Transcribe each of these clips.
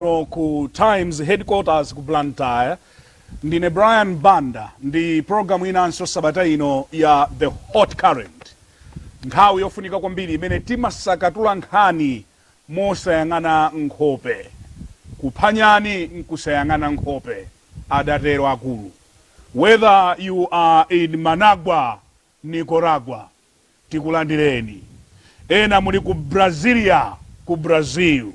kuno ku Times Headquarters ku Blantyre. Ndine Brian Banda ndi program inanso sabata ino ya The Hot Current. Nthawi yofunika kwambiri imene timasakatula nkhani mosayang'ana nkhope. Kupha nyani nkusayang'ana nkhope, adatero akulu. Whether you are in Managua, Nicaragua, tikulandireni. Ena muli ku Brasilia, ku Brazil.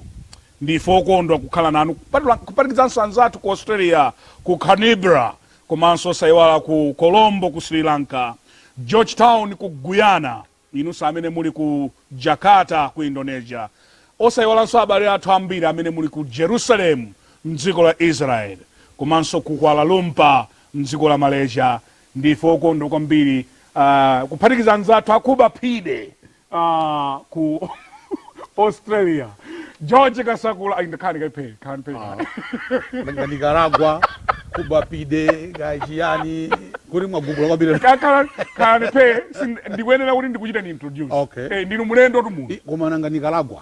Ndife okondwa kukhala nanu, kupatula, kuphatikizanso anzathu ku Australia, ku Canberra, komanso osaiwala ku Colombo, ku Sri Lanka, George Town, ku Guyana, inunso amene muli ku Jakarta, ku Indonesia, osaiwalanso abale athu ambiri amene muli ku Jerusalem, m'dziko la Israel, komanso ku Kuala Lumpur, m'dziko la Malaysia. Ndife okondwa kwambiri ah, kuphatikiza anzathu a ku Baphide ah, ku australia george kasakula Ayi, ndakhani kaiphe khani phe Nga Nicaragua, Cuba pide, nga chiyani, kuli mwagugula kwambiri. kakhala khani phe sin- ndikuyenera kuti ndikuchitani introduce Okay. eh, ndinu mlendotu munthu I- Koma nanga Nicaragua.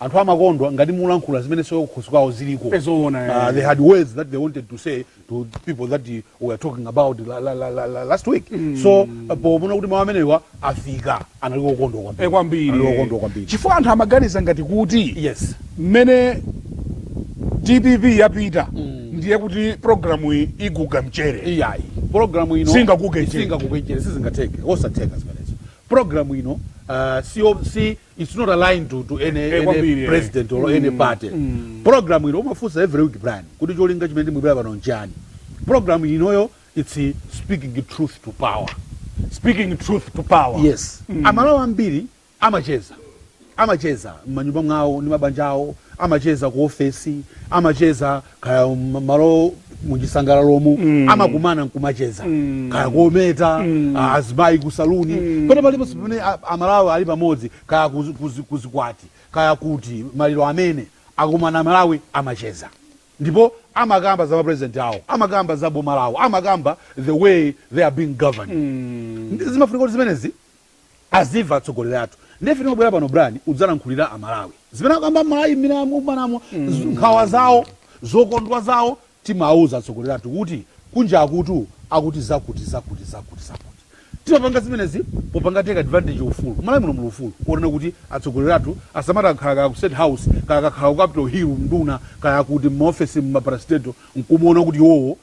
anthu amakonda ngati mulankhula zimene so kukhosi kwawo ziliko Eh, zoona, eh. Ah, they had words that they wanted to say to people that eh, were talking about la, la, la, la, la, last week so eh, poona kuti mawu amenewa afika anali okondwa kwambiri Eh, kwambiri anali okondwa kwambiri chifukwa anthu amaganiza ngati kuti yes mmene dpp yapita ndiye kuti programu iyi iguga mchere iyayi programu ino Singaguge mchere. singaguge mchere sizingateke osatheka zimenezo programu ino ah, si, si it's not aligned to, to any, eh, any eh. president or mm. any party mm. program ino umafunsa every week brian kuti cholinga chimene timabwera pano nchani program inoyo it's speaking truth to power speaking truth to power yes mm. amalawi ambiri amacheza amacheza mmanyumba mwawo ndi mabanja awo amacheza ku ofesi amacheza kaya malo achisangalalomu mm. amakumana nkumacheza mm. kaya kometetsa mm. Ah, azimayi ku saluni mm. pena paliponse pamene amalawi ali pamodzi kaya kuzikwati kaya kuti maliro amene akumana amalawi amacheza ndipo amakamba za mapresident awo amakamba za boma lawo amakamba the way they are being governed mm. zimafunika kuti zimenezi azimva atsogoleri athu nde ife timabwera pano brian kudzalankhulira amalawi zimene akamba mmalo mmene akumanamo z- nkhawa zawo zokondwa zawo timawauza atsogoleri athu kuti kunjakutu akuti zakuti zakuti zakuti zakuti timapanga zimenezi popanga take advantage ufulu mmalawi muno muli ufulu onena kuti atsogoleri athu asamati akakhala kaya ku state house kaya akakhala ku capital hill nduna kaya kuti mmaofesi mmaparasiteto nkumuona kuti iwowo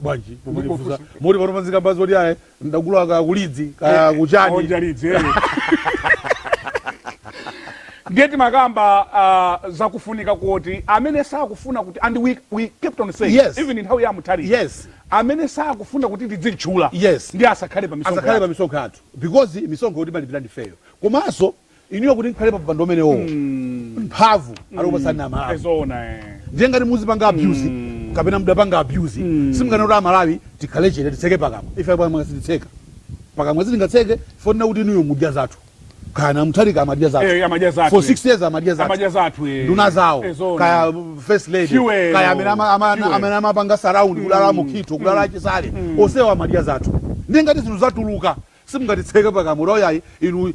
bwanji mumandifunsa moti pano padzikambwa zoti ayi ndagula kaya kulidzi kaya eh, kuchani onja lidzi eh. ndiye timakamba uh, zakufunika kuti amene sakufuna kuti and we, we kept on saying yes. even in nthawi ya mutali yes. amene sakufuna kuti tidzimutchula yes. ndiye asakhale pa misonkho yathu because misonkhoyo timalipira ndifeyo komanso inuyo kuti mukhale pa mpando umenewowo Mm. mphamvu anakupatsani amalawi Ezoona eh. ndiye ngati muzipanga abuse Mm. kapena mudapanga abuse Mm. simunganene kuti amalawi tikhale chete titseke pakamwa ife pakamwa sititseka pakamwa sitingatseke ponena kuti inuyo mudya zathu kaya Mutharika amadya zathu Eh, amadya zathu, for eh. 6 years amadya zathu Amadya zathu eh. nduna zawo Ezoona. kaya first lady Fuel. kaya amene ama- ama- Fuel. amene amapanga surround kaya a Mukhito kaya a Chisale onsewa amadya zathu ndiye ngati zinthu zatuluka Simungatitseke pakamwa kuti, Oh, yayi, inu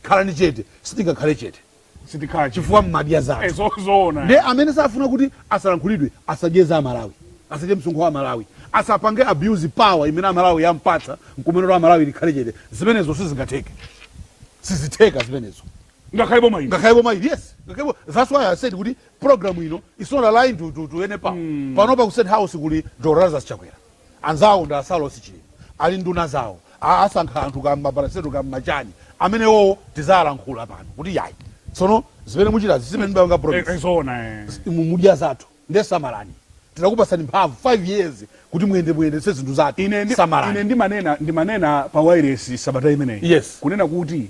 khalani chete. Sitingakhale chete. Sitikhala chete. Chifukwa mumadya zathu. Zo, zoona. Ndiye amene safuna kuti asalankhulidwe asadye za Amalawi. Asadye msonkho wa Amalawi. Asapange abuse power imene Amalawi ampatsa nkumanena kuti Amalawi tikhale chete. Zimenezo sizingatheke. Sizitheka zimenezo. Ngakhale boma ili. Ngakhale boma ili, yes. Ngakhale boma. That's why I said kuti program ino is not aligned to, to, to any power. Panopa ku State House kuli a Lazarus Chakwera. Anzawo ndi a Saulos Chilima ali nduna zawo a asankha anthu ka mma parastatal ka mma chani amenewowo tizalankhula pano kuti yayi tsono zimene muchitazi sizimene munapanga promise zi inu mudya zathu nde samalani tinakupasani mphamvu 5 years kuti muyende muyendetse zinthu zathu Ine ndi, ine samalani ndimanena, ndimanena pa wailesi sabata imeneyi yes kunena kuti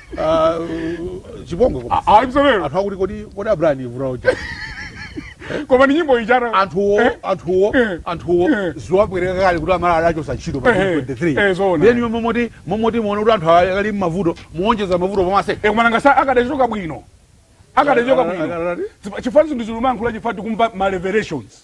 Ah, chipongwe koma. Ah, ah, mzalero. anthu akuti kodi kodi abrani vura uja koma ni nyimbo ichara anthuwo anthuwo Eh. anthuwo Eh. zikuwabwerera kale kuti aMalawi adachosa ntchito pa Eh, eh. 23 Eh, zoona. then iwe momoti momoti muona kuti anthu akali mmavuto muonjeza mavuto pamwamba ekumana sa akadachoka bwino akadachoka Ah, ah, ah, bwino ah. Zipa- chifukwa zinthu ziluma ankhula chifukwa tikumva ma revelations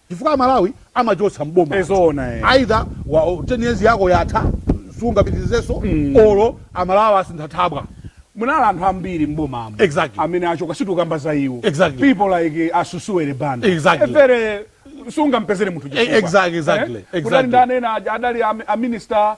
chifukwa amalawi amachotsa m'boma anthu Ezoona eh. either wa, 10 years yako yatha sungapitirizenso or amalawi asintha thabwa Munali anthu ambiri m'bomamu Exactly. amene achoka sitikukamba za iwo Exactly. people like eh, a Susuwele banda Exactly. evere sungampezere munthu chifukwa. exactly, exactly, Eh? exactly. Kunali ndani ena aja, adali am- a minister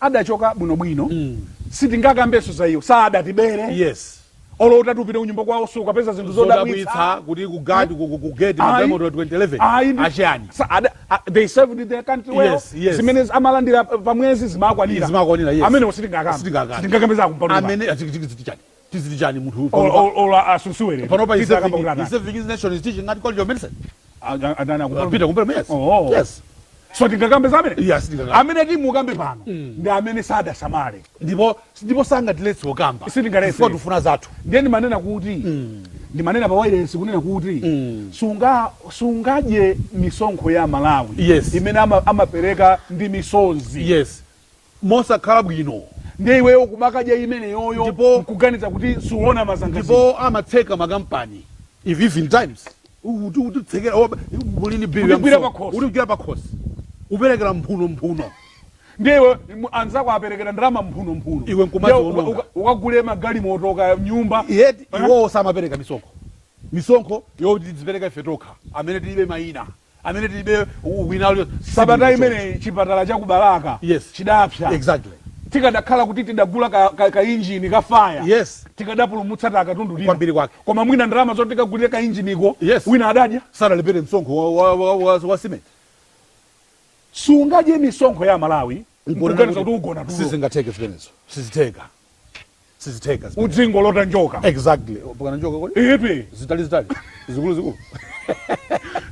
adachoka bwino bwino sitingakambenso za iwo saadatibere yes olo utati upite kunyumba kwawo sukapeza zinthu zodabwitsa zodabwitsa kuti ku guard ku ku- ku gate ma Ayi. galimoto 2011 Ayi, ndi- achani sa- ada- a- they served their country well Yes, yes. zimene amalandira pa mwezi zimakwanira Zimakwanira, yes. amenewo sitingakambe Sitingakambe. sitingakambe za a Kumpalume amene achiki chani tiziti chani munthu uyu Olo- panopa- olo- olo asusuwe lero. panopa Tita akamba kuti atani. is serving his nation is teaching at college of medicine Aga- atani Uh, akupolo- Peter Kumpelemu, yes. Oh. Yes. so tingakambe za amene Yes, tingakambe. amene timukambe pano ndi amene sadasamale ndipo ndipo sangatiletse kukamba Sitingaletse. Chifukwa tikufuna zathu ndiye ndimanena kuti ndimanena pa wailesi kunena kuti sunga sungadye misonkho ya malawi Yes. imene ama- amapereka ndi misonzi yes mosakhala bwino. Ndiye iweyo kumakadya imeneyoyo Ndipo- nkuganiza kuti suona mazangazi. Ndipo amatseka makampani even if times uti utitsekera oba muli ni bill ya Utigwira msonkho. pakhosi. utigwira pakhosi uperekera mphuno mphuno Ndiye iwe mu- anzako aperekera ndalama mphuno mphuno. Iwe nkumadzi- Ndiye uka- wononga. uka- Ukagule magalimoto kaya nyumba. yet Eh? iwowo samapereka misonkho misonkho yoti tizipereka ife tokha amene tilibe mayina amene tilibe mayina alionse sabata imeneyi chipatala cha ku balaka chidapsa exactly tikadakhala kuti tidagula ka, ka, ka injini ka faya yes tikadapulumutsa ta katundu bwino kwambiri kwake koma mwina ndalama zoti tikagulire ka injiniko yes wina adadya sadalipire msonkho wa, wa, wa, wa, wa simenti sungadye misonkho ya malawi Nkumanena kuti ugona tulo. Sizingatheke zimenezo. Sizitheka. Sizitheka zimenezo. Udzingolota njoka. Exactly. Mpakana njoka kodi? Eyepe. Zitali zitali. Zikulu zikulu.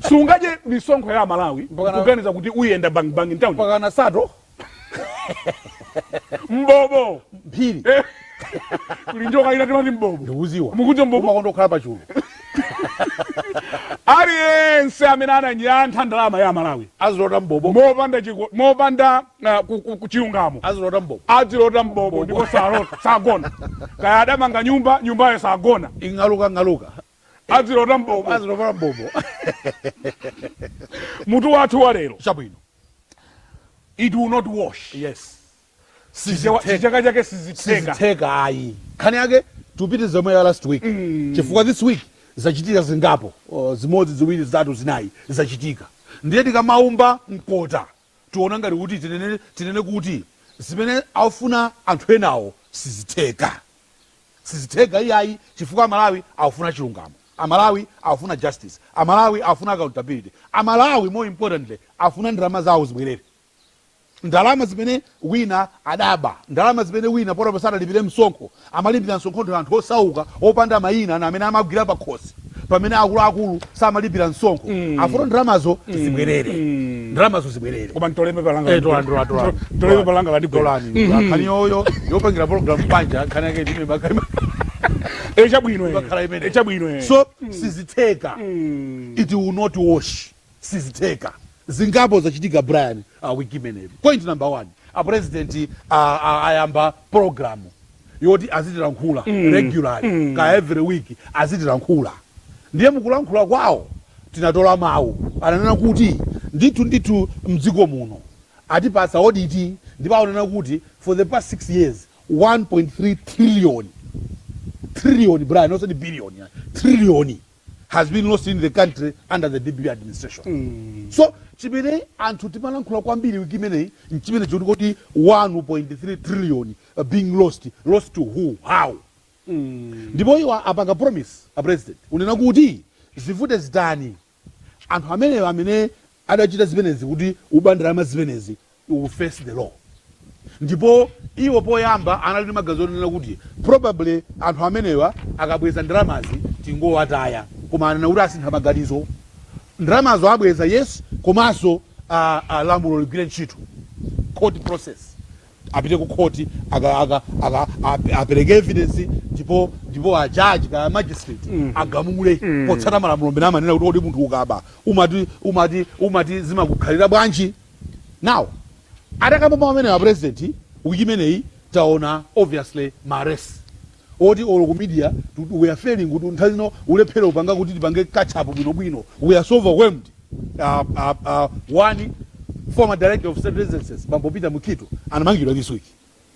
Sungadye misonkho ya Malawi. Mpakana. Kuganiza kuti uyenda bang bang in town. Mpakana sato. Mbobo. Mphiri. Eh. kuli njoka ina timati mbobo ndikudziwa Mukuti mbobo? imakonda kukhala pachulu aliyense amene ananyantha ndalama ya amalawi azilota mbobo mopanda chiko- mopanda ah, ku- ku- ku- chilungamo azilota mbobo adzilota mbobo ndipo salota sagona kaya adamanga nyumba nyumbayo sagona ing'aluka ng'aluka adzilota mbobo azilota mbobo mutu wathu wa lero chabwino it will not wash yes Chichewa- Sizithe- chichewa chake sizitheka sizitheka ayi nkhani yake tipite zomwe ya last week chifukwa this week zachitika zingapo oh, zimodzi ziwiri zitatu zinayi zachitika ndiye tikamaomba mkota tiona ngati kuti tinene, tinene kuti zimene afuna anthu enawo sizitheka sizitheka iyayi chifukwa amalawi afuna chilungamo amalawi afuna justice amalawi afuna accountability amalawi more importantly afuna ndalama zawo zibwerere ndalama zimene wina adaba, ndalama zimene wina pano sadalipire msonkho, amalipira msonkho ndi anthu osauka opanda mayina na amene amagwira pakhosi pamene akuluakulu samalipira msonkho afuna ndalamazo zibwerere ndalamazo zibwerere Koma nditole paper langa. Eh, tolani, tolani, tolani. Nditole paper langa landigwera. tolani nkhani yoyo yopangira program panja nkhani yake ndi imene imakhala Eh, chabwino. eh. imene. Eh, chabwino. eh. so sizitheka it will not wash sizitheka. Zingapo zachitika Brian wiki imeneyi. Point number one, a president a a ayamba programu yoti azitilankhula regularly kaya every week azitilankhula. Ndiye mukulankhula kwawo tinatola mawu ananena kuti ndithu ndithu mdziko muno atipatsa audit ndipo akunena kuti for the past six years 1.3 trillion, trillion Brian osati billion ayi, trillion. has been lost in the country under the dpp administration mm. so chimene anthu timalankhula kwambiri wiki imeneyi nchimene chotikuti 1.3 trillion uh, being lost lost to who how mm. ndipo mm. iwo apanga promise a president kunena kuti zivute zitani anthu amenewo amene adachita zimenezi kuti kuba ndalama zimenezi will face the law ndipo iwo poyamba anali ndi maganizo onena kuti probably anthu amenewa akabweza ndalamazi tingowataya koma anena kuti asintha maganizo ndalamazi abweza yes komanso a, a lamulo ligwire ntchito court process apite ku khoti aka aka aka ap- apereke evidence ndipo ndipo a judge kaya magistrate agamule potsata malamulo amene amanena kuti kodi munthu ukaba umati umati umati zimakukhalira bwanji now atakamba mawu amenewa president wiki imeneyi taona obviously mares oti olo ku media too we are failing kuti nthawi zina kulephera kupanga kuti tipange catch up bwino bwino we are so overwhelmed uh, uh, uh, one former director of state residences bambo peter mukhito anamangidwa this week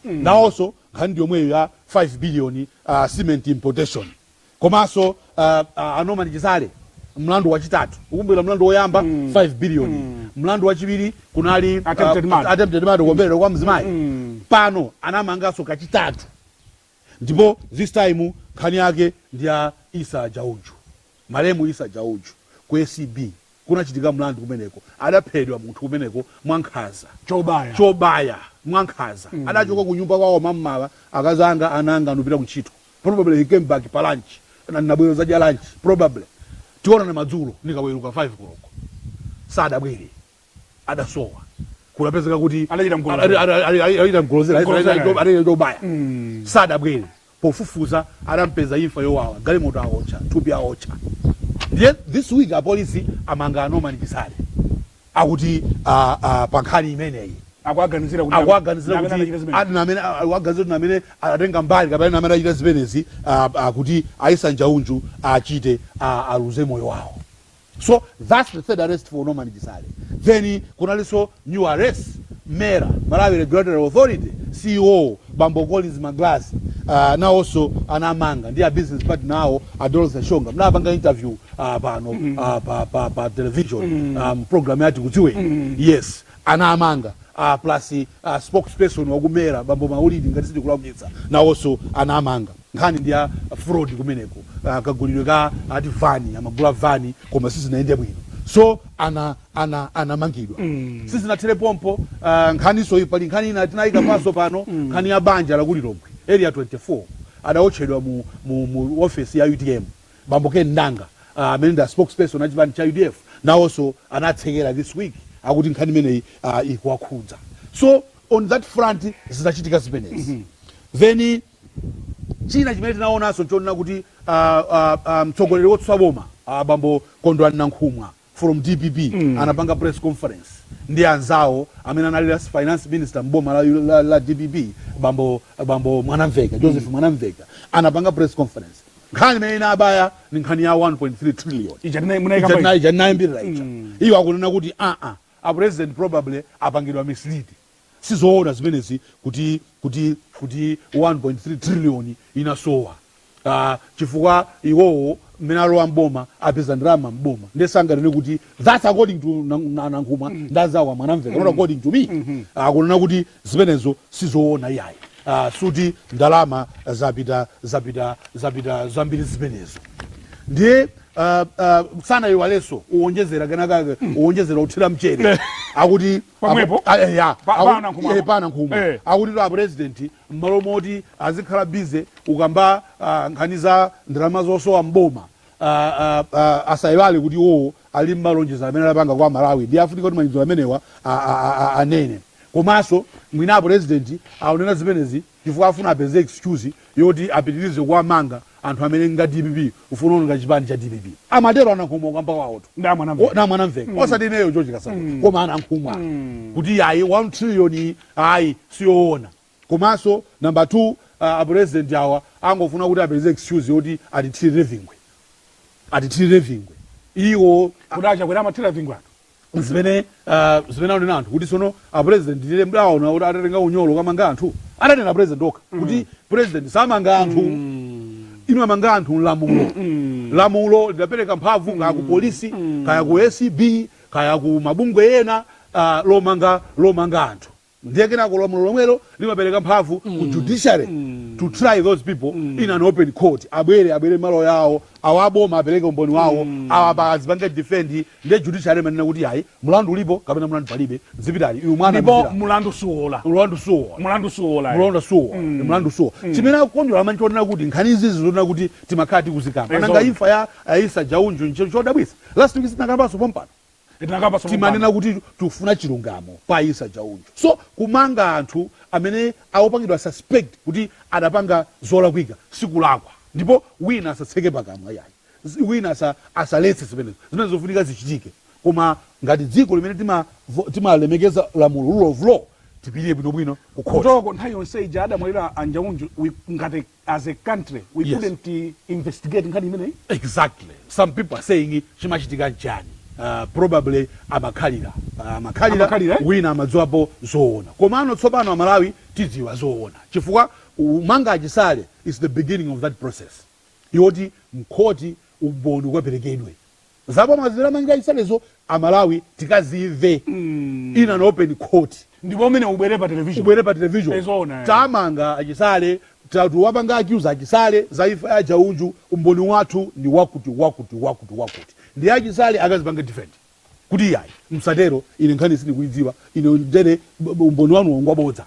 mm. nawonso nkhani ndi yomweyo ya 5 billion uh, cement importation komanso uh, uh, a norman chisale mlandu wachitatu ukumbukira mlandu woyamba 5 billion mlandu wachiwiri kunali Attempted uh, murder. attempted murder kuomberedwa kwa mzimayi pano awamanganso kachitatu ndipo this time nkhani yake ndi ya Issa Njaunju, malemu Issa Njaunju ku acb kunachitika mlandu kumeneko, adaphedwa munthu kumeneko mwa nkhanza, Chobaya. chobaya mwa nkhanza, adachoka ku nyumba kwawo m'mamawa, akazi anga, ana anga nupita ku ntchito, probably he came back pa lunch, na nibwera kuzadya lunch, probably tionana madzulo nikaweruka 5 koloko, sadabwere. adasowa kudapezeka kuti Adachita mgolozera. ada- ada- ada- adachita mgolozera, Mgolozera. adachita- adachita chobaya Mm. sadabwere pofufuza adampeza imfa yowawa galimoto awotcha thupi awotcha ndiye this week apolisi amanga a norman chisale akuti ah, ah, pa nkhani imeneyi akuwaganizira kuti akuwaganizira amene anachita kuti zimene. ati ndi amene akuwaganizira kuti ndi amene anatenga mbali kapena ndi amene achita zimenezi ah, ah, kuti a issa njaunju achite ah, aluze moyo wawo so thats the third arrest for norman chisale then kunalinso new arrest MERA Malawi regulatory authority ceo bambo Collins Magalasi uh, nawonso anamanga ndi a business partner awo a Dorothy Shonga mnapanga interview uh, pano uh, pa, pa, pa television um, program ya Tikudziweni yes anamanga uh, plus uh, spokesperson wa ku MERA bambo Malidi ngati sindikulakwitsa nawonso anamanga nkhani ndi ya fraud kumeneko kagulidwe ka ati van amagula van koma sizinayende bwino so ana ana anamangidwa sizinathere pompo ah, nkhaninso iyi pali nkhani ina tinayikapanso pano nkhani ya banja la ku Lilongwe area 24 adawotchedwa mu, mu, mu ofesi ya utm bambo Ken Ndanga ah, amene ndi a spokesperson a chipani cha udf nawonso anatsekeredwa this week akuti nkhani imeneyi ah, ikuwakhudza so on that front zinachitika zimenezi then China chimene tinaonanso nchonena kuti a a a mtsogoleri wotsutsa boma a bambo Kondwani Nankhumwa from dpp anapanga press conference ndi anzawo amene anali last finance minister m'boma la la la dpp bambo bambo Mwanamveka Joseph Mwanamveka anapanga press conference nkhani imene inabeba ndi nkhani ya 1.3 trillion Ija tinai- munaikamba ija. ija tinayambirira ija iyo akunena kuti aa a president probably apangidwa mislead sizoona zimenezi kuti kuti kuti 1.3 trillion inasowa ah, chifukwa iwowo mmene alowa mboma apeza ndalama mboma ndiye sanganene kuti that's according to Nan- Na- nankhumwa ndi anzawo a Mwanamveka not according to me akunena kuti zimenezo sizoona iyayi Ah, sikuti ndalama zapita zapita zapita zambiri zimenezo ndiye uh, uh, sanaiwalenso uwonjezera kenakake uwonjezera uthira mchere akuti Pomwepo? Apo- a- eya. Pa- Aku- pa Nankhumwa. eh, pa Nankhumwa Eh. akutitu apurezidenti mmalo moti azikhala bize ukamba ah, nkhani za ndalama zosowa mboma ah, ah, ah, asayiwale kuti iwowo ali ndi malonjezo amene anapanga kwa aMalawi ndiye afunika kuti malonjezo amenewa a- a- a- a- anene komanso mwina apurezidenti aonera zimenezi chifukwa afuna apeze excuse yoti apitilize kuwamanga anthu amene nga a dpp ufuna kuononga chipani cha dpp amatero a Nankhumwa kukamba kwawotu Ndi a Mwanamve- O- ndi a Mwanamveka mm. osati ineyo George Kasakula mm. koma a Nankhumwa mm. kuti ayi 1 trillion iyi ayi siyoona komanso namba 2 uh, apresident awa angofuna kuti apeze excuse yoti atithirire vingwe atithirire vingwe iwo Kuti a Chakwera amathira vingwe anthu. zimene uh, zimene anena anthu kuti sono a president ndiye mudaona kuti atatenga unyolo kamanga anthu ananena president okha mm. kuti president samanga anthu mm. imamanga anthu ndi lamulo mm. lamulo lidapereka mphamvu mm. kaya ku mm. polisi mm. kaya ku acb kaya ku mabungwe ena uh, lomanga lomanga anthu Ndiye kenako lamulo lomwelo limapereka mphamvu ku judiciary to try those people in an open court. Abwere, abwere ndi maloya awo, awo a boma apereke umboni wawo, awa apa azipange defend, ndiye judiciary imanena kuti ayi, mlandu ulipo kapena mlandu palibe, zipitani, inu Ndipo mwawanamizira. mlandu suwola. Mlandu suwola. Mlandu suwola. eh. Mlandu suwola. Mlandu suwola. Chimene akukondwera Amalawi nchonena kuti nkhani izizi nzonena kuti timakhala tikuzikamba. Nanga Ezona. imfa ya a Issa Njaunju nchodabwitsa. Last week sitinakambanso pompano. timanena kuti tufuna chilungamo kwa Issa Njaunju so kumanga anthu amene akupangidwa suspect kuti adapanga zolakwika sikulakwa ndipo wina asatseke pakamwa iyayi wina asa asaletse zimenezo zimenezo zofunika zichitike koma ngati dziko limene tima timalemekeza lamulo rule of law tipitilire bwinobwino kukhoti kutoko nthawi yonse ija adamwalira a Njaunju we ngati as a country we yes. couldn't uh, investigate nkhani imeneyi exactly some people are saying chimachitika nchani uh, probably amakhalira uh, amakhalira Amakhalira, eh? wina amadziwapo zoona komano tsopano amalawi tidziwa zoona chifukwa kumanga achisale is the beginning of that process yoti mkhoti umboni ukaperekedwe Zaboza zimene amachita achisalezo amalawi tikazimve in an open court. Ndipo umenewo ubwere pa television. Ubwere pa television. Ezoona. Tamanga achisale tikuwapanga accuse achisale za imfa ya a Njaunju umboni wathu ndi wakuti wakuti wakuti wakuti ndiye achisale akazipange defend kuti iyayi musatero ine nkhani sindikuidziwa ine ndiye umboni wanuwo ngwabodza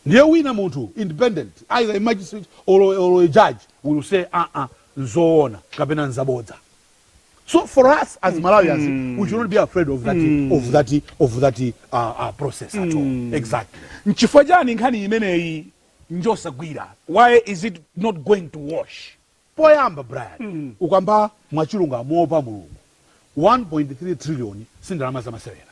ndiye wina munthu independent either a magistrate or, or a judge will say aa nzoona kapena nzabodza. So for us as mm. Malawians, mm. we should not be afraid of that mm. of that of that uh, uh, process at all. Mm. Exactly. Nchifukwa chani nkhani imeneyi njosagwira? Why is it not going to wash? Poyamba Brian, mm. ukamba mwachilungamo pa mulungu. 1.3 trillion si ndalama zamasewera.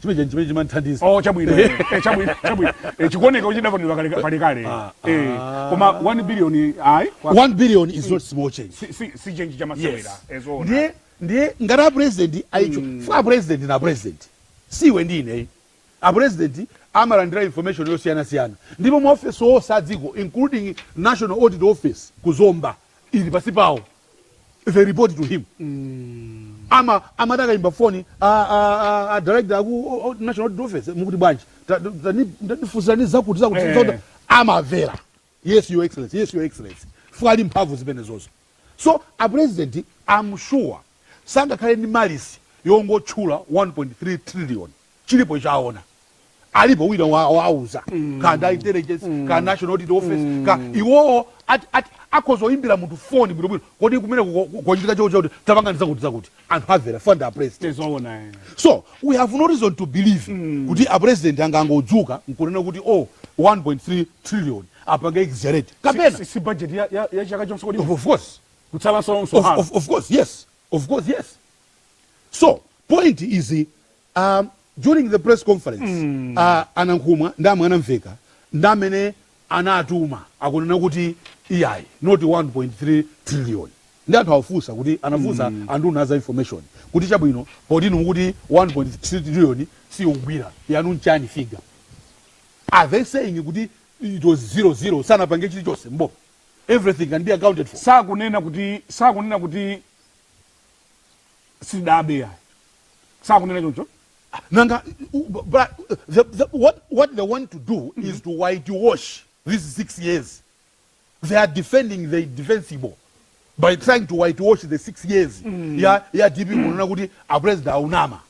chimenecho chimene chimanthandiza oh chabwino eh, eh, chabwino chabwino eh, chikuoneka kuti chidapangidwa kale kale kale ah, eh ah. koma 1 billion ayi 1 billion is not small change si si, si change cha masewera yes. ezoona ndiye ndiye ngati apresident aicho mm. chifukwa apresident ndi apresident si iwe ndi ine ayi president amalandira information yosiyana siyana ndipo ma office onse a dziko including national audit office kuzomba ili pansi pawo they report to him ama amati akayimba foni a- a- a- a director aku o- o- national audit office mukuti bwanji Ta- ta- tani- tatifunsirani zakuti zakuti Eh. zakuti. amamvera yes your excellency yes your excellency chifukwa ali ndi mphamvu zimenezozo so a president am sure sangakhale ndi malice yongotchula 1.3 trillion chilipo icho aona alipo wina wawauza mm. ka nda intelligence mm. ka national audit office mm. ka iwowo akhoza oyimbira munthu foni bwinobwino kodi kumene kuchitika chao chakuti tapanga ndizakuti zakuti anthu avera fund a president eh. so we have no reason to believe mm. kuti a president angangodzuka nkunena kuti oh 1.3 trillion apange exaggerate kapena si, si budget ya, ya, ya chaka chonse kodi of course kutsalanso of, of, of course yes of course yes so point is a during the press conference a Nankhumwa ndi a Mwanamvekha ndi amene anatuma akunena kuti iyayi not 1.3 trillion ndi anthu awafunsa kuti anafunsa anduna a za information kuti chabwino poti inu mukuti 1.3 trillion siyogwira yanu nchani figure are they saying kuti it was zero zero sanapange chilichonse mboma everything can be accounted for sakunena kuti sakunena kuti sidabe ya sakunena choncho nanga u- bu- but the, the, what, what they want to do is to whitewash these six years they are defending the defensible by trying to whitewash the six years ya, ya dp kunena kuti apresident aunama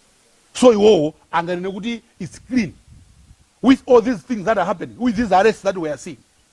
so iwowo anganene kuti its clean with all these things that are happening with these arrests that we are seeing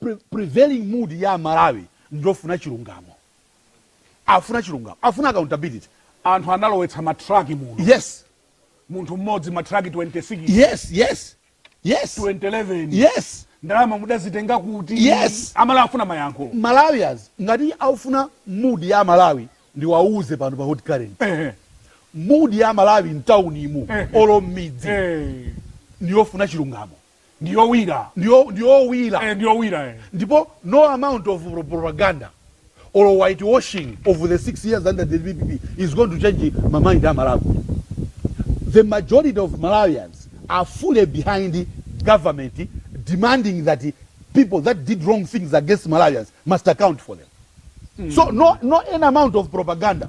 pre, prevailing mood ya amalawi ndiyofuna chilungamo afuna chilungamo afuna accountability anthu analowetsa matraki muno yes munthu mmodzi matraki 26 yes yes yes 2011 yes ndalama mudazitenga kuti Yes. amalawi afuna mayankho malawians ngati aufuna mood ya malawi ndiwauze pano pa hot current Ehe, mood ya malawi mtaunimu ehe. olo mmidzi ehe. ndiyofuna chilungamo ndi yowira ndi ndi yowira ndi yowira ndipo no amount of propaganda or white washing of the 6 years under the dpp is going to change ma mind a malawi the majority of malawians are fully behind government demanding that people that did wrong things against malawians must account for them mm. so no, no any amount of propaganda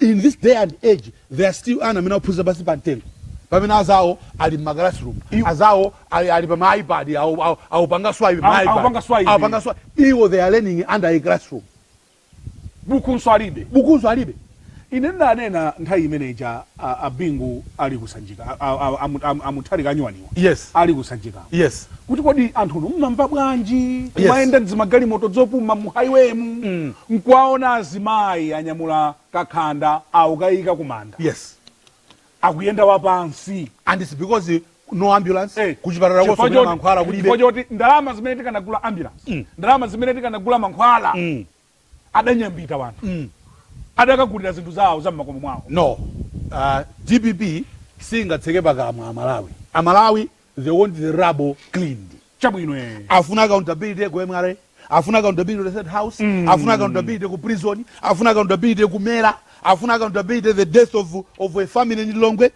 in this day and age there are still ana amene akuphunzira pansi pa mtengo pamene azawo ali mma classroom azawo ali, ali pa ma ipad awo- awo- awupanga swipe ma Awu- iPad. awupanga swipe. Awupanga swipe. iwo they are learning under a classroom bukunso alibe bukunso alibe ine ndanena nthawi imene ija a a Bingu ali ku Sanjika a a a a Mu- a Mu- a Mutharika anyuwaniwa Yes. ali ku Sanjikako Yes. kuti kodi anthunu mmamva bwanji kumayenda dzimagalimoto dzopuma mu highway mu nkuwaona azimayi anyamula kakhanda aukayika kumanda Yes. akuyenda wapansi And it's because eh, no ambulance Eh, kuchipatala chifukwa kosomera choti- mankhwala chifukwa kulibe. choti ndalama zimene tikanagula ambulance ndalama zimene tikanagula mankhwala adanyambita wanthu mm. adakagulira zinthu zawo za mmakomo mwawo. No uh, dpp singatseke pakamwa amalawi. Amalawi they want the rubble cleaned. Chabwino eh. Afuna accountability ku MRA, afuna accountability ku State House, mm. afuna accountability ku prison, afuna accountability ku Mera, afuna accountability the death of, of a family in Lilongwe.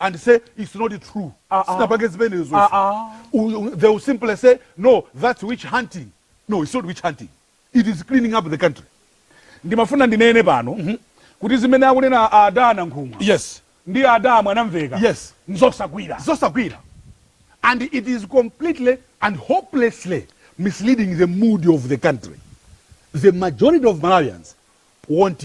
and say its not true ah, ah. sinapange zimenezo ah, they will simply say no thats witch hunting no its not witch hunting it is cleaning up the country ndimafuna ndinene pano mm -hmm. kuti zimene akunena ada Nankhumwa yes ndi ada Mwanamvekha yes nzosagwira zosagwira and it is completely and hopelessly misleading the mood of the country the majority of malawians want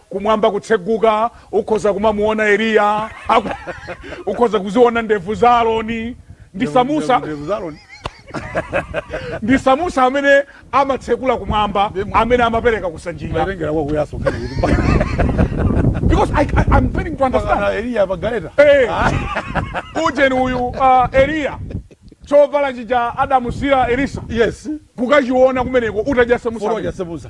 kumwamba kutseguka, ukhoza kumamuona Eliya, aku- ukhoza kuziona ndevu za Aroni ndi Samuza Ndevu za Aroni. ndi Samuza amene amatsekula kumwamba, Ndimo. amene amapereka kusandulika. Matengera kwa kuyaso nkhani kuti mpaka- Because I, I, I'm failing to understand. mpaka Eliya pa galeta. Hey, ujeni uyu uh, Eliya chovala chija adamusiira Elisa Yes. kukachiona kumeneko utadyasa Foro musa. jasebuza.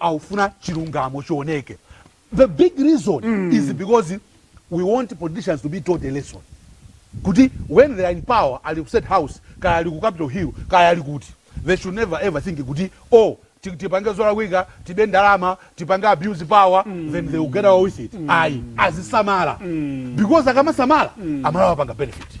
Akufuna chilungamo chioneke the big reason mm. is because we want politicians to be taught a lesson kuti when they are in power ali ku state house kaya ali ku capital hill kaya ali kuti they should never ever think kuti oh tipange zolakwika tibe ndalama tipange abuse power mm. then they will get away with it mm. ayi azisamala mm. because akamasamala mm. amalawi a panga benefit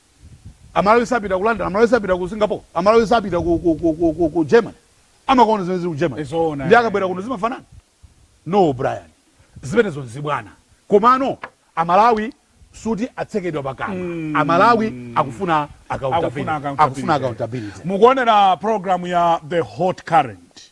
Amalawi sapita ku London, Amalawi sapita ku Singapore, Amalawi sapita ku, ku, ku, ku, ku, ku Germany. Amakaonako zimene zili ku Germany. Zoona, Ndiye eh. akabwera kuno zimafanana? No, Brian. Zimenezo nzibwana. Komano Amalawi sikuti atsekedwa pakamwa. Amalawi akufuna accountability. Akufuna accountability. Akufuna accountability. mukuonera program ya the hot current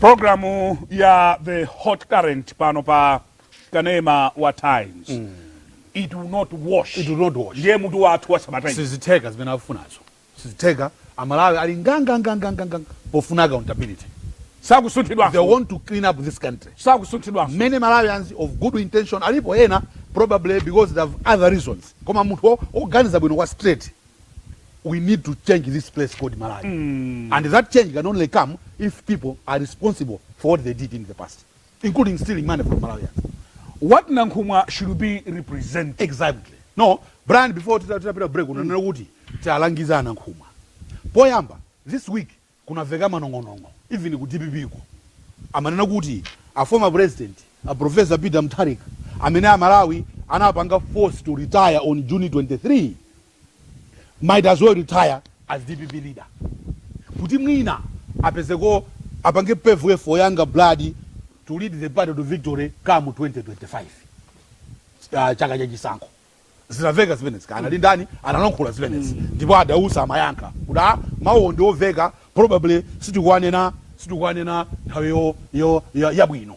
programu ya the hot current pano pa kanema wa times mm. it will not wash it will not wash ndiye mutu wathu wa sabata ino sizitheka zimene akufunazo Sizitheka, amalawi ali ngangangangangangang pofuna accountability. Sakusunthidwanso. They want to clean up this country. Sakusunthidwanso. Many Malawians of good intention alipo ena probably because they have other reasons koma munthu oganiza bwino kwa straight we need to change this place called Malawi and that change can only come if people are responsible for what they did in the past. including stealing money from Malawians. What Nankhumwa should be represented exactly? No, Brian before titapita break mm. unanena kuti tiwalangiza a Nankhumwa. Poyamba, this week kunaveka manong'onong'o even ku DPP ko. Amanena kuti a former president, a Professor Peter Mutharika, amene a Malawi anapanga force to retire on June 23 might as well retire as dpp leader kuti mwina apezeko apange pave for younger blood to lead the party to victory come 2025 uh, chaka cha chisankho zinamveka zimenezi kaya ndi ndani analankhula zimenezi ndipo a Dausi amayankha kuti mawuwo ndi omveka probably sitikuwanena sitikuwanena nthawi yo- yo- ya- yabwino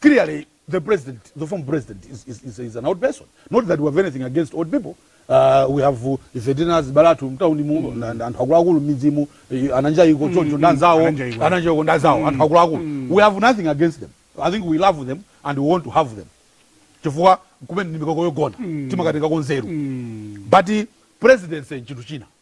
clearly the president, the former president, is, is, is, is an old person. Not that we have anything against old people. Uh, we have uh, ife tili ndi azibale athu mtauni mu mm. na- na- anthu akuluakulu m'midzimu eh, ananja iko choncho ndi anzawo ananja iko. ananja iko ndi anzawo anthu akuluakulu we have nothing against them i think we love them and we want to have them chifukwa kumene ndi mikoko yogona timakatengako nzeru but presidency nchinthu china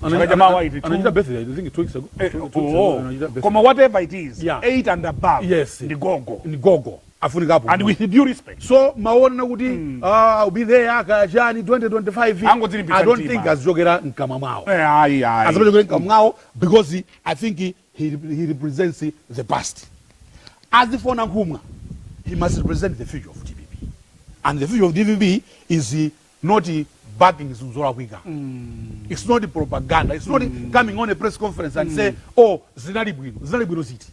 Chaka cha mawa iti, two- anachita birthday I think two weeks ago Eh, two weeks ago, oh, anachita birthday. koma whatever it is Yeah. 8 and above Yes. ndi gogo ndi gogo afunika apo and with due respect so kumaona kuti ah, I'll be there aka chakuti 2025 Angodzilimbitsa i don't mtima. think azichokera mkamwa mwawo Eh, ayi ayi asamachokere mkamwa mwawo because i think he, he represents the past as for nankhumwa he must represent the future of dpp and the future of dpp is not backing zinthu zolakwika its not propaganda its not coming on a press conference and say oh zinali bwino zinali bwino ziti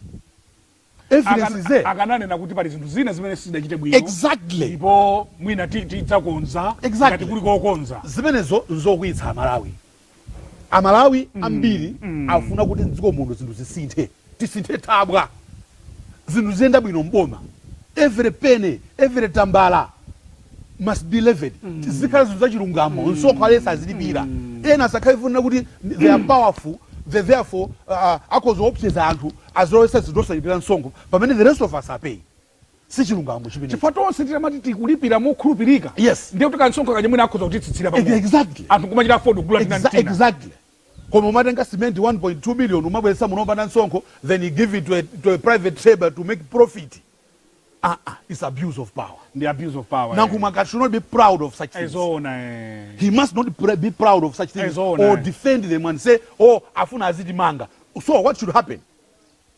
evidence is there akananena kuti pali zinthu zina zimene sizidachite bwino exactly ndipo mwina ti- tidzakonza Exactly. ngati kuli kokonza zimenezo nzokwiyitsa amalawi Amalawi ambiri akufuna kuti mdziko muno zinthu zisinthe, tisinthe thabwa zinthu ziziyenda bwino m'boma, every penny, every tambala must be, zizikhala zinthu zachilungamo, msonkho aliyense azilipira, ena asakhale chifukwa chonena kuti they are powerful, therefore akhoza kuopseza anthu, azilowetsa zinthu osalipira msonkho pamene the rest of us are paying. sichilungamo chimenecho chifukwa tonse titamati tikulipira mokhulupirika yes ndiye kuti kansonkho kaja mwina akhoza kutitsitsira pang'ono exactly anthu kumachita afford kugula tina Exa tina exactly koma umatenga cement 1.2 million umabweretsa muno opanda msonkho then you give it to a, to a private trader to make profit ah ah it's abuse of power ndi abuse of power nankhumwa eh. should not be proud of such things ezoona eh. he must not pr be proud of such things ezoona or eh. defend them and say oh afuna azitimanga so what should happen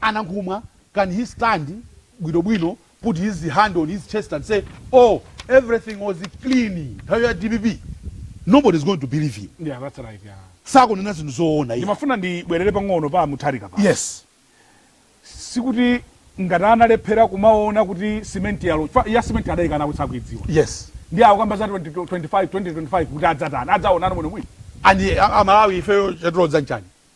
Anankhumwa can he stand bwino bwino put his hand on his chest and say oh everything was clean nthawi ya dpp nobody is going to believe him Yeah, that's right, yeah. sakunena zinthu zoona iyayi. ndimafuna ndibwerere pang'ono pa a mutharika pano Yes. sikuti ngati analephera kumaona kuti simenti yalowa chifukwa ya simenti adaikana kuti sakuidziwa Yes. ndiye akukamba za 20, 25, 2025 kuti adzatani adzaonano bwino bwino And a, a Malawi ifeyo chatilodza nchani?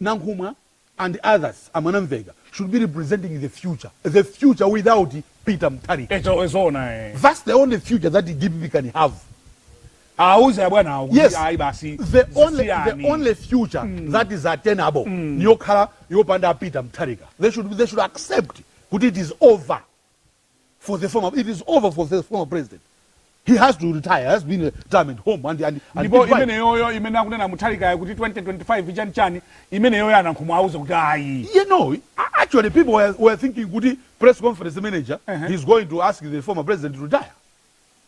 Nankhumwa and others a Mwanamveka should be representing the future, the future without Peter Mutharika. HOH zoona ee. Thats the only future that dpp can have. Awauze abwanawo kuti Yes. ayi basi The only, the zisiyani. only future that is attainable niyokhala yopanda Peter Mutharika. They should, they should accept kuti it is over. for the former it is over for the former president he has to retire has been a retirement home and and, and ndipo goodbye. imeneyoyo imene akunena muthalikayo kuti 2025 chani chani imeneyoyo anankhumwa auze kuti ayi you know a- actually people were, were thinking kuti press conference manager Uh-huh. he's going to ask the former president to retire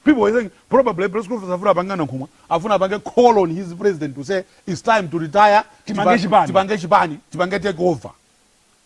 people were thinking probably press conference afuna apange anankhumwa afuna apange call on his president to say it's time to retire Tipange Tipa- chipani. tipange chipani tipange take over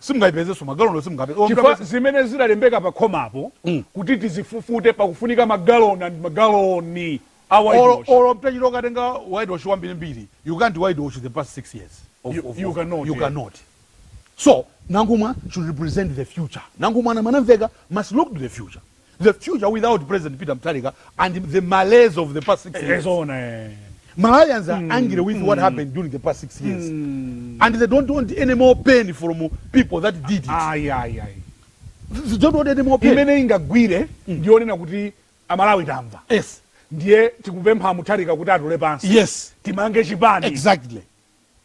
Simungaipezenso, magaloniwo simungapeze. Simunga Chifukwa peze. zimene zidalembeka pa khomapo kuti tizifufute pakufunika magaloni and magaloni a Olo, whitewash. olo mtachita ukatenga whitewash wambiri mbiri, you can't whitewash the past 6 years of, You- of, you of, cannot, you yeah. cannot. So, Nankhumwa should represent the future. Nankhumwa ana- anamveka must look to the future. the future without president peter mthalika and the malaise of the past six years ezoona eh. malawians are angry with what happened during the past six years and they don't want any more pain from people that did it ayi ayi ayi they don't want any more pain imene ingagwire ndiyonena kuti amalawi tamva yes ndiye tikupempha muthalika kuti atule pansi yes timange chipani exactly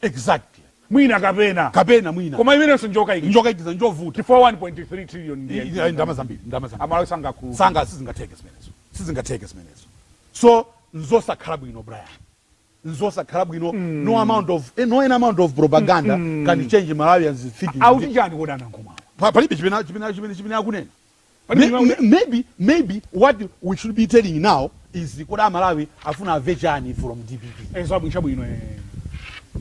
Exactly. Mwina kapena. Kapena mwina. Koma imenenso njokaikiza. Njokaikiza njovuta. Chifukwa 1.3 trillion ndi iyayi. Iyayi ndalama zambiri, ndalama zambiri. Amalawi sangakhululuke. Sanga sizingatheke zimenezo. Sizingatheke zimenezo. So nzosakhala bwino Brian. Nzosakhala bwino mm. no amount of eh, no amount of propaganda mm. can change Malawians thinking. Auti chani koma nankhumwa. Palibe chimene chimene chimene chimene akunena. Pali May- mnyamata- may- maybe maybe what we should be telling now is kuti amalawi afuna amve chani from dpp Eh, zabwino chabwino eh.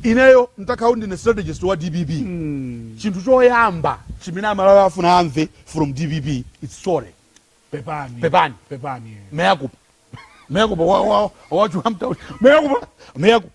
ineyo ntakhala ndine strategist wa dpp Mm. chinthu choyamba chimene amalawi afuna amve from dpp its sorry Pepani. Pepani. Pepani. eh. mea culpa mea culpa wachuhamtauli Mea culpa. mea culpa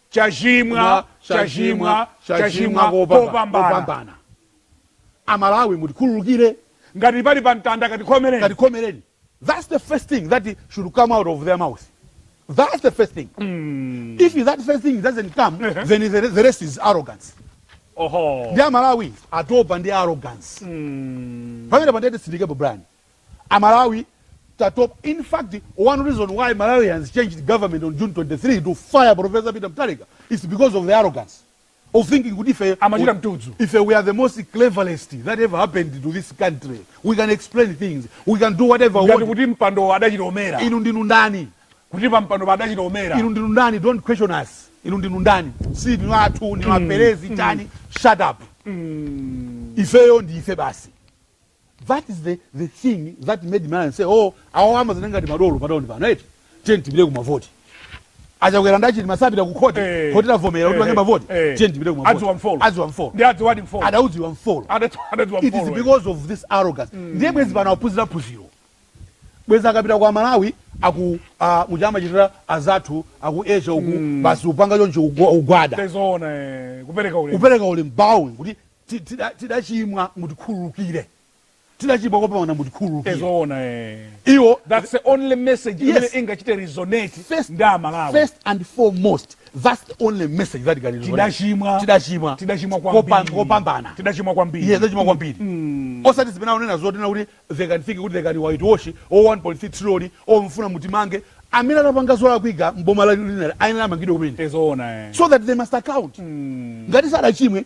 Ndachimwa, ndachimwa, ndachimwa kopambana. Amalawi mutikhululukire. Ngati pali pa mtanda mukatikhomereni. Katikhomereni that's the first thing that should come out of their mouth that's the first thing mm. if that first thing doesn't come uh -huh. then the, the rest is arrogance ndi amalawi atopa ndi arrogance mm. pamene pandete sindikepo brani Amalawi tatopa in fact one reason why Malawians changed government on June 23 to fire Professor Peter Mutharika is because of the arrogance of thinking kuti ife Amachita mtudzu. ife we are the most cleverest that ever happened to this country we can explain things we can do whatever we ngati want kuti mpandowo adachilowera inu ndinu ndani kuti pampandopo adachilowera inu ndinu ndani don't question us inu ndinu ndani si ndinu athu ndinu aperezi chani shut up ifeyo ndi ife basi That is the the thing that made Malawians say oh awawa amazioneka ngati madolo pa town pano eti tiyeni tipite kumavoti. A Chakwera ndi a Chilima sapita ku khoti, Eh. khoti lavomera kuti Eh, apange eh, mavoti eh. tiyeni tipite kumavoti. Adziwa mfolo. Adziwa mfolo. Ndi adziwadi mfolo. Adaudziwa mfolo. Adatu- adatu wa It is mfolo. because of this arrogance. Ndiye bwezi pano aphunzira phunziro. Bwezi akapita kwa Amalawi aku ah, muja amachitira azathu aku Asia uku basi upanga choncho ugwa- ugwada. Tezoona eh, kupereka ulemu. Upereka uli mbawuni kuti tidachimwa mutikhululukire, tidachimwa kopambana mutikhululukire iwo that's the only message imene ingachite resonate ndi amalawi first and foremost that's the only message that can tidachimwa tidachimwa tidachimwa kwambiri kopambana tidachimwa kwambiri yes tidachimwa kwambiri mm. osati zimene anena zoti ndi kuti they can think kuti they can white wash o 1.3 trillion mufuna mutimange amene anapanga zolakwika m'boma lathu linali ayenera amangidwe kumene eh. so that they must account mm. ngati sadachimwe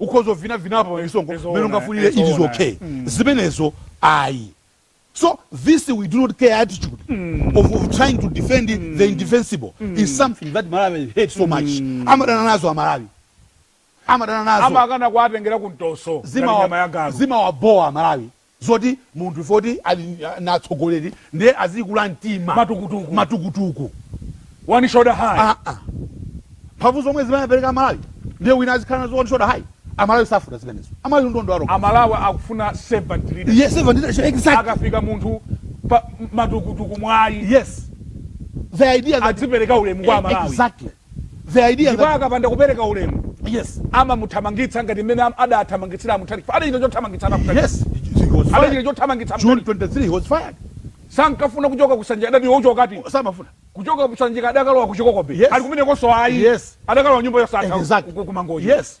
ukhoza uvinavinapo pa misonkhano Ndizo mmene ona, ungafunire ndizo it is ona. okay zimenezo ayi so this we do not care attitude of, of trying to defend the indefensible is something that Malawians hate so much amadana nazo amalawi amadana nazo amakana kuwatengera ku mtoso ngati maliro a zimawa njoka zimawabowa amalawi zoti munthu poti ali mtsogoleri ndiye azikula mtima matukutuku matukutuku one shoulder high aa mphamvu zomwe zimene apereka amalawi ndiye wina azikhala nazo one shoulder high amalawi safuna zimenezo amalawi ndi ndondo aroko amalawi akufuna servant leadership yes servant leadership exactly akafika munthu pa matukutuku mwayi yes the idea that adzipereka ulemu kwa amalawi exactly the idea ndipo that akapanda kupereka ulemu yes amamuthamangitsa ngati mmene am- adathamangitsira a Mutharika chifukwa adachita chothamangitsa ana a Mutharika yes he, he was adachita fired chothamangitsa a June Mutharika 23 he was fired sankafuna kuchoka kusanja adati iwe uchoka akuti samafuna kuchoka kusanjika adakalowa kuchikokobe Yes. ali kumenekonso ayi Yes. adakalowa nyumba yosathaKu Exactly. ku- ku- kumangochi Yes.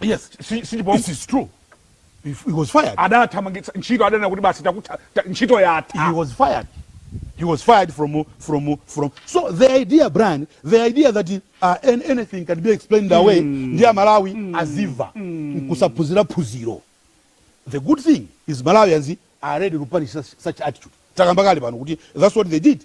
Yes, si, si, it is true. He, he was fired. Adathamangitsa ntchito adanena kuti basi takutha ntchito yatha. He was fired. He was fired from from from. So the idea, Brian, the idea that uh, anything can be explained mm. away ndi Malawi mm. aziva mm. kusaphunzira phunziro. The good thing is Malawians are ready to punish such, such attitude. Takambakali pano kuti that's what they did.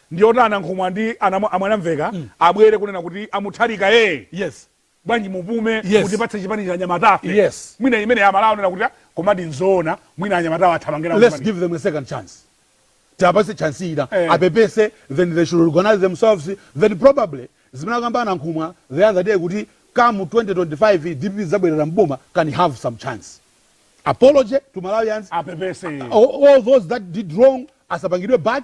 Ndi oti a Nankhumwa ndi a Mwanamvekha abwere kunena kuti a Mutharika ee Yes. bwanji mupume Yes. mutipatse chipani ichi anyamatafe. Yes. Mwina imeneyi a Malawi aona kuti a komadi nzoona mwina anyamatawa athamange nawo Let's chipanichi. give them a second chance. Tiwapatse chance ina. Eh. Apepese then they should organize themselves then probably zimene akamba a Nankhumwa the other day kuti come 2025 DPP idzabwerera m'boma can have some chance. Apology to Malawians. Apepese. All, all those that did wrong asapangidwe back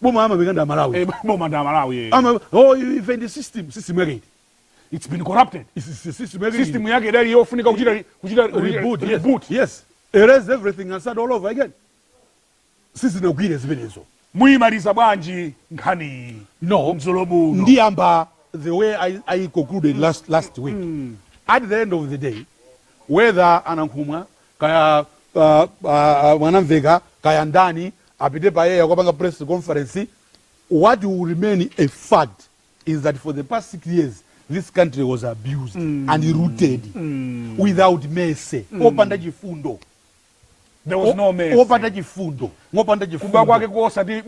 boma amapanga ndi amalawi Eh, boma ndi amalawi eh. Ama- oh, ife ndi system system yake iti it's been corrupted It's- it's- system yake iti? system yake idali yofunika kuchita kuchita reboot, reboot. Yes. yes erase everything and start all over again sizinagwire zimenezo muyimaliza bwanji nkhaniyi no ndiyamba the way i, I concluded last, last week at the end of the day whether a Nankhumwa kaya Mwanamvekha kaya ndani apite pa air kukapanga press conference, what will remain a fact is that for the past 6 years this country was abused mm. and looted mm. without mercy mm. opanda chifundo there was no mercy opanda chifundo ngopanda chifundo kuba kwake kosati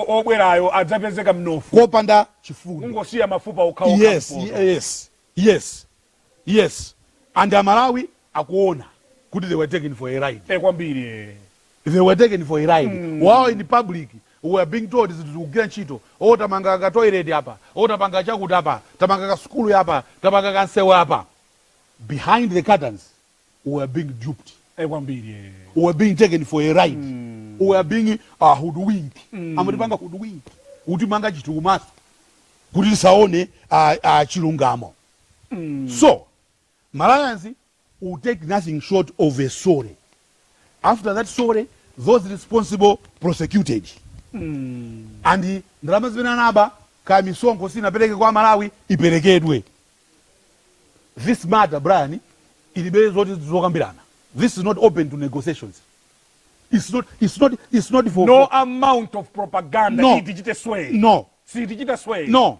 obwerayo adzapezeka mnofu kopanda chifundo ungosiya mafupa okhaokha yes yes yes Yes and amalawi akuona kuti they were taken for a ride. Eh kwambiri eh. They were taken for a ride. Mm. While in public we are being told zinthu zikugwira ntchito. Oh tamanga ka toilet apa. Oh tapanga chakuti apa. Tamanga ka sukulu apa. Tapanga ka nsewu apa. Behind the curtains we were being duped. Eh kwambiri eh. We were being taken for a ride. Mm. We were being uh, hoodwinked. Mm. Amatipanga hoodwink. Kutimanga chinthu kumaso. Kuti tisaone uh, uh, chilungamo. so malawians will take nothing short of a sorry after that sorry those responsible prosecuted and ndalama zimene anaba kaya misonkho sinapereke kwa malawi iperekedwe this matter brian ilibe zoti zokambirana this is not open to negotiations it's not, it's not, it's not for, no for amount of propaganda No. sitichite sway no sitichita sway no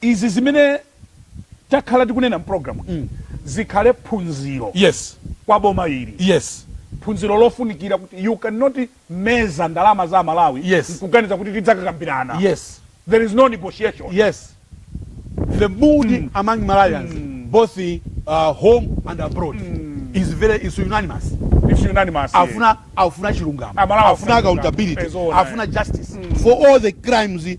Izi zimene takhala tikunena m'programu iyi zikhale phunziro Yes. kwa boma ili. Yes. Phunziro lofunikira kuti you can not meza ndalama za aMalawi Yes. nkuganiza kuti tidzakakambirana. Yes. There is no negotiation. Yes. The mood among Malawians both uh, home and abroad is very is unanimous. It's unanimous. yeah. Akufuna akufuna chilungamo. Amalawi Akufuna akufuna chilungamo. accountability. Ee zoona, Akufuna justice for all the crimes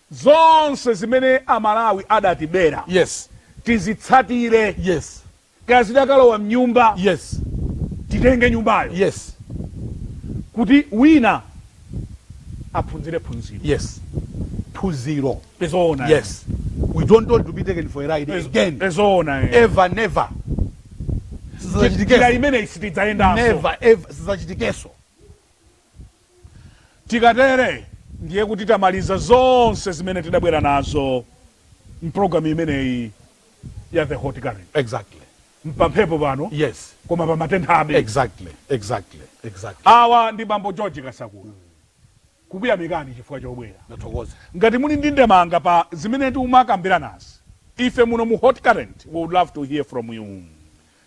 Zonse zimene a Malawi adatibera Yes. tizitsatire. Yes. Kaya zidakalowa m'nyumba, Yes. titenge nyumbayo Yes. kuti wina aphunzire phunziro. Yes. Phunziro. Ndi zoona eti? Yes. We don't want to be taken for a ride Ndi- again. ndi zoona eti? Ever, never. Njira Sizachitikeso. imeneyi sitidzayendanso. Never, ever. Sizachitikeso. Tikatere ndiye kuti tamaliza zonse zimene tidabwera nazo m'programu imeneyi ya The Hot Current. Exactly. Mpamphepo pano Yes. koma pamatenthabe. Exactly. Exactly. Exactly. Awa ndi Bambo George Kasakula. Kukuyamikani chifukwa chobwera. Ndathokoza. Ngati muli ndi ndemanga pa zimene timakambiranazi, ife muno mu Hot Current we would love to hear from you.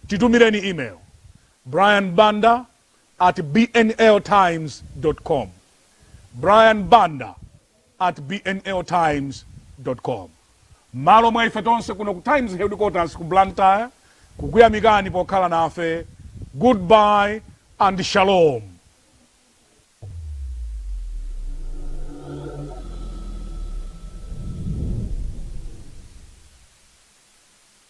Titumireni email, brian banda at bnltimes com brian banda at bnltimes com M'malo mwa ife tonse kuno ku Times Headquarters ku Blantyre kukuyamikani pokhala nafe, goodbye and shalom!